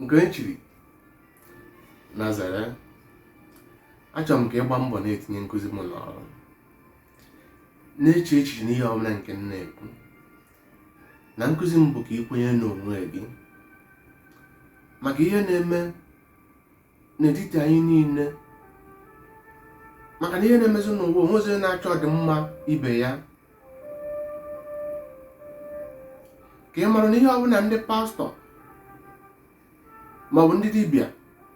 nke e chiri na zere achọrọ m ka ị gbaa mbọ na-etinye nkụzi m n'ọrụ na-eche echiche n'ihe ọbụla nke m na-ekwu na nkụzi m bụ ka ị kwenye n'onwe gị maka ihe na-eme n'etiti anyị niile maka na ihe na-emezi n'ụwa o nwezi onye na-achọ ọdịmma ibe ya ka ị mara na ihe ọbụla ndị pastọ maọbụ ndị dibịa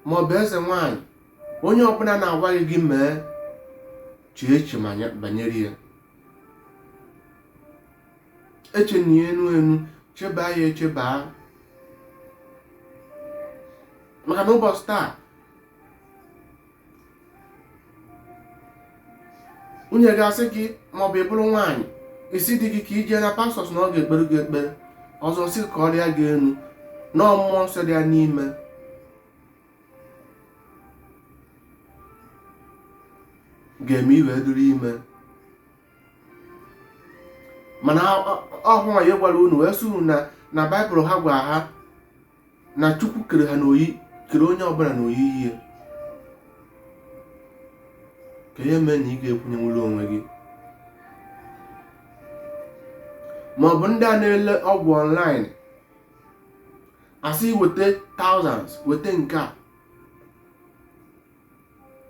maọbụ eze nwanyị onye ọbụla na-agwa gị gị mee chee eche banyere ya echena ya enu enu cheba ya echeba maka na ụbọchị taa nwunye gị asị gị maọbụ ị bụrụ nwaanyị ị sị di gị ka i jee na pastọs na ọ ga-ekpere gị ekpere ọzọ sị ka ọ rịa gị enu na mmụọ nsọ dị ya n'ime ga-eme i wee dụrụ ime mana ọhụ ya gwara unu wee suru na na baịbụl ha gwara ha na chukwu kere ha n'oyi kere onye ọbụla n'oyiyi ya ka ihe mee na ị ga-ekwenyenwuru onwe gị ma ọ bụ ndị a na-ele ọgwụ online a sị weta thousands weta nke a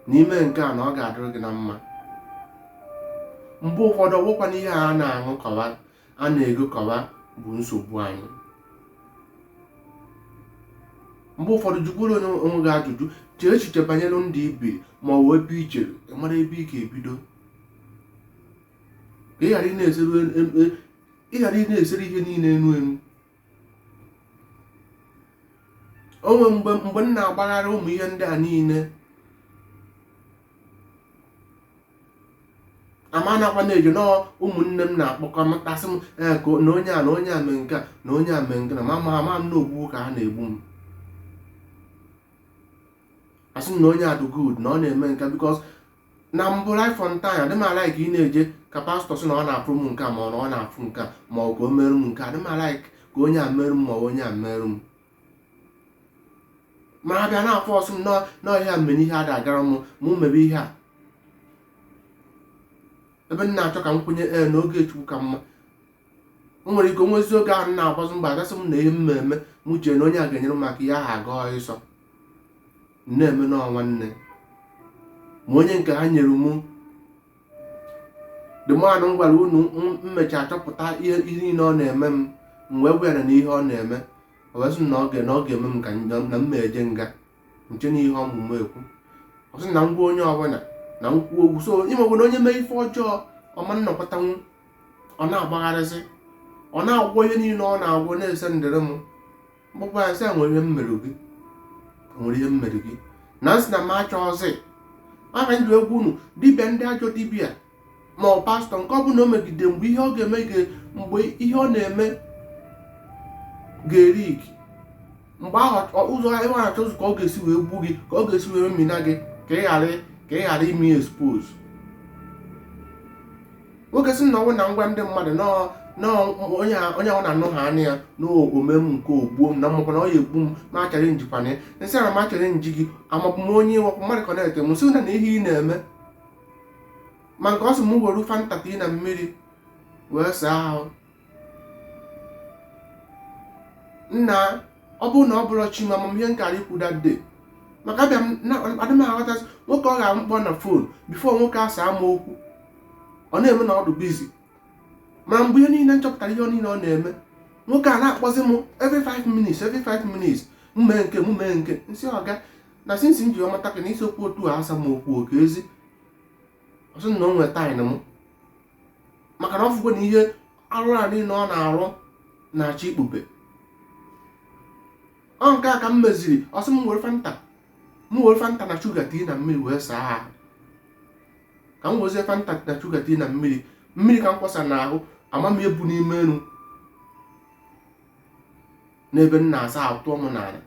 na i mee nke a na ọ ga-adịrị gị na mma mgbe ụfọdụ ọgwụkwa na ihe a na-aṅụkọwa a na-egokọwa bụ nsogbu anyị mgbe ụfọdụ jụkwuru onye onwe gị ajụjụ chee echiche banyere ndụ i bi ma ọ bụ ebe i chere iru mara ebe ị ga-ebido ka ị ghara ị na-esere ihe niile enu enu o nwe mgbe mgbe m na-agbagharị ụmụ ihe ndị a niile ama nakwa na-eji na ụmụnne m na-akpọkọ m a sị m ee ka na onye a na onye a mee nke a na onye a mee nke na ma ma ama m na ogbugbu ka ha na-egbu m asị m na onye a dị good na ọ na-eme nke bikos na mbụ right from time adị m alaik ị na-eje ka pastọ sị na ọ na-afụ m nke a ma ọ na ọ na-afụ nke a ma ọ bụ ka o merụ m nke a adị m alaik ka onye a merụ m ma ọ bụ onye a merụ m ma a bịa na-afọsụ m nọ- nọ ihe a mere na ihe ada-agara m mụ mebe ihe a ebe m na-achọ ka m kwenye ee na oge chukwu ka mma o nwere ike onwezi oge ahụ na-agbazi mbọ agasị m na ihe m na-eme m chee na onye a ga-enyere m aka ihe ahụ aga ọsọ m na-eme na nwanne ma onye nke ha nyere mụ dịmanụ m gwara unu m- m mechaa chọpụta ihe ihe niile ọ na-eme m m wee gwara na ihe ọ na-eme o wee sị m na ọ ga- na ọ ga-eme m ka m- na m na-eje nga nche na ihe ọmụmụ ekwu ọ sị na m gwa onye ọbụla na m kwuo okwu so ị mago na onye mee ife ọjọọ ọ ma nọkọtanwu ọ na-agbagharịzi ọ na-agwọ ihe niile ọ na-agwọ na-esendịrị m m kpọkwa ya sị nwere ihe m merụ gị nwere ihe m merụ gị na m sị na m achọghịzị aka m ji agwa unu dibịa ndị ajọ dibịa ma ọ pastọ nke ọ bụla o megide mgbe ihe ọ ga-eme mgbe ihe ọ na-eme ga-eleak mgbe ahụ ụzọ ihe ọ na-achọ ka ọ ga-esi wee gbu gị ka ọ ga-esi wee mmina gị ka ị ghara ka ị ghara ime expose nwoke sị na ọ wụ na m gwa ndị mmadụ onye ọ wụ na-anụ ha anya ya na o mee m nke o gbuo m na m makwa na ọ ya egbu m m achallengikwana ya m sị na m achallenge gị amago m onye ị wụkwa mmadụ ka na-ete m sị na na ihe ị na-eme ma nke ọ sị m were fanta tii na mmiri wee saa ahụ nna ọ bụrụ na ọ bụrọ chi m ihe m kara ikwu that day maka abịa adị m aghọtazị nwoke ọ ga-abụ m kpọọ na fon before nwoke asaa m okwu ọ na-eme na ọ dị busy ma mgbe ihe niile m chọpụtara ihe niile ọ na-eme nwoke a na-akpọzi m every 5 minutes every 5 minutes mee nke mee nke m sị ọga na since m ji mata gị na i sirọkwa otu a asa m okwu oke ezi ọ sị na o nwere time m maka na ọ fụgo na ihe arụ a niile ọ na-arụ na-achọ ikpube ọ nke a ka m meziri ọ sị m were fanta m were fanta na shuga tii na mmiri wee saa ahụ ka m wezie fanta na shuga tii na mmiri mmiri ka m kwasa n'ahụ ama m ebu n'ime elu n'ebe m na-asa ahụ tụọ m n'ala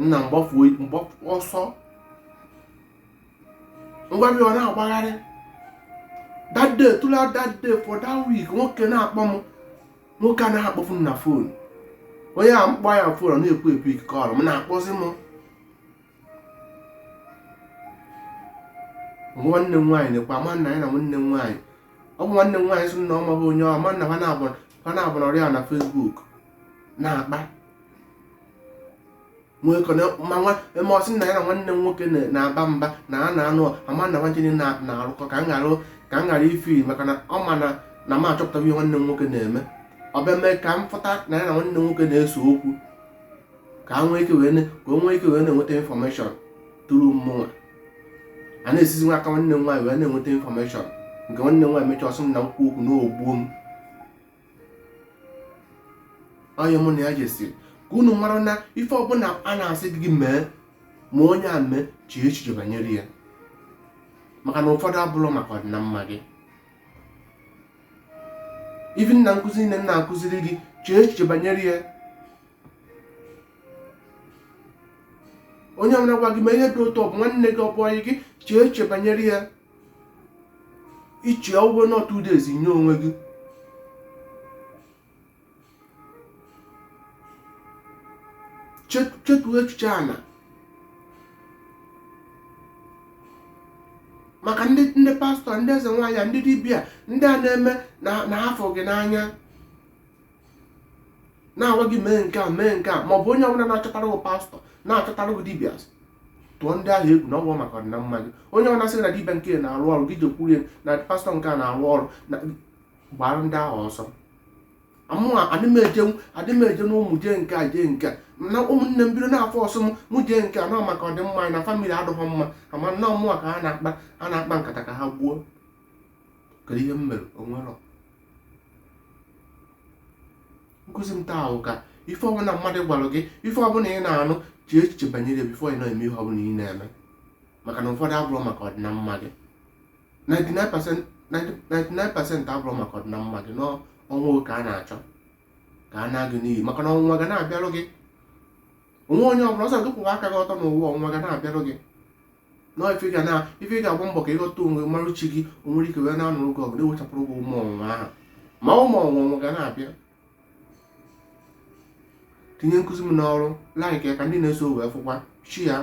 nna m gbafuo m gbafu ọsọ ngwa bịa ọ na-agbagharị that day throughout that day for that week nwoke na-akpọ m nwoke a na-akpọfu m na fon onye a m kpọọ ya fon ọ na-ekwu ekwu ike kọrọ m na-akpọzi m nwanne m nwaanyị nekwa ama na ya na nwanne m nwaanyị ọ bụ nwanne m nwaanyị sị na ọ maghị onye ọ ma na ha na-abụ ha na-abụrụ ọyị na Facebook na-akpa nwee kọ na- ma nwa ma ọ sị na ya na nwanne m nwoke na- na-aba mba na a na-anụ ama na nwanne ya na- na-arụkọ ka m ghara ka m ghara ịfụ maka na ọ ma na na m achọpụtaghị ihe nwanne m nwoke na-eme ọ bịa mee ka m fụta na ya na nwanne m nwoke na-ese okwu ka o nwee ike wee na-enweta infọmeshọn through mụwa na-esizi n'aka nwanne m nwaanyị wee na-enweta infọmeshọn nke nwanne m nwaanyị mechaa ọ sị m na m kwuo okwu na o gbuo m onye mụ na ya jesiri ka unu mara na ife ọbụla a na-asị gị mee ma onye a mee chee echiche banyere ya maka na ụfọdụ abụrọ maka ọdịna mma gị even na nkụzi nke m na-akụziri gị chee echiche banyere ya onye ọbụla gwa gị mee ihe dị otu ọ bụ nwanne gị ọ bụ ọyị gị chee eche banyere ya iche ụgwọ na two days nye onwe gị chetuo echiche a na maka ndị ndị pastọ ndị eze nwaanyị ndị dibịa ndị a na-eme na afụ gị n'anya na-agwa gị mee nke a mee nke a ma ọ bụ onye ọbụla na-achọtara gị pastọ na-achọtara gị dibịa tụọ ndị ahụ egwu na ọ bụ maka ọdịna mma gị onye ọbụla sị na dibịa nke a na-arụ ọrụ gị jekwuru ya na pastọ nke a na-arụ ọrụ na gbara ndị ahụ ọsọ mụwa adị m eje na ọ mụ jee nke a jee nke a na ụmụnne m bido na-afọsụ m mụ jee nke a na ọ maka ọdịmma anyị na famili adịghị mma ama m na ọ mụwa ka ha na-akpa a na-akpa nkata ka ha gbuo kedu ihe m mere onwerọ nkụzi m taa bụ ka ife ọbụla mmadụ gwara gị ife ọbụla ị na-anụ chee echiche banyere bifo ị na-eme ihe ọbụla ị na-eme maka na ụfọdụ abụrọ maka ọdịnamma gị 99% abụrọ maka ọdịnamma gị na ọnwụ ka a na-achọ ka a naa gị n'iyi maka na ọnwụnwa ga na-abịarụ gị onwe onye ọbụla ọ sọ gị kwụwa aka gị ọtọ n'ụwa ọnwụnwa ga na-abịarụ gị na ife ga na ife ị ga-agba mbọ ka ị ghọta onwe mara chi gị o nwere ike wee na-anụrụ gị ọgụ na-ewechapụrụ gị ụmụ ọnwụnwa ahụ ma ụmụ ọnwụnwa ga na-abịa tinye nkụzi m n'ọrụ laik ya ka ndị na-eso wee fụkwa share ya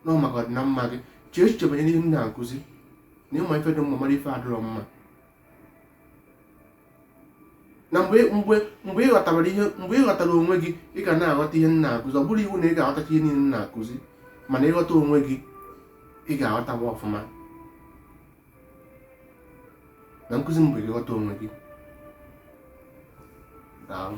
na ọ maka ọdịnamma gị chee echiche banyere ihe m na-akụzi na ị ma ife dị mma mara ife adịrọ mma na mgbe mgbe mgbe ị ghọtara ihe mgbe ị ghọtara onwe gị ị ga na-aghọta ihe m na-akụzi ọ bụrọ iwu na ị ga-aghọtacha ihe niile m na-akụzi mana ị ghọta onwe gị ị ga-aghọtawa m ọfụma na nkụzi m bụ ịghọta onwe gị daalụ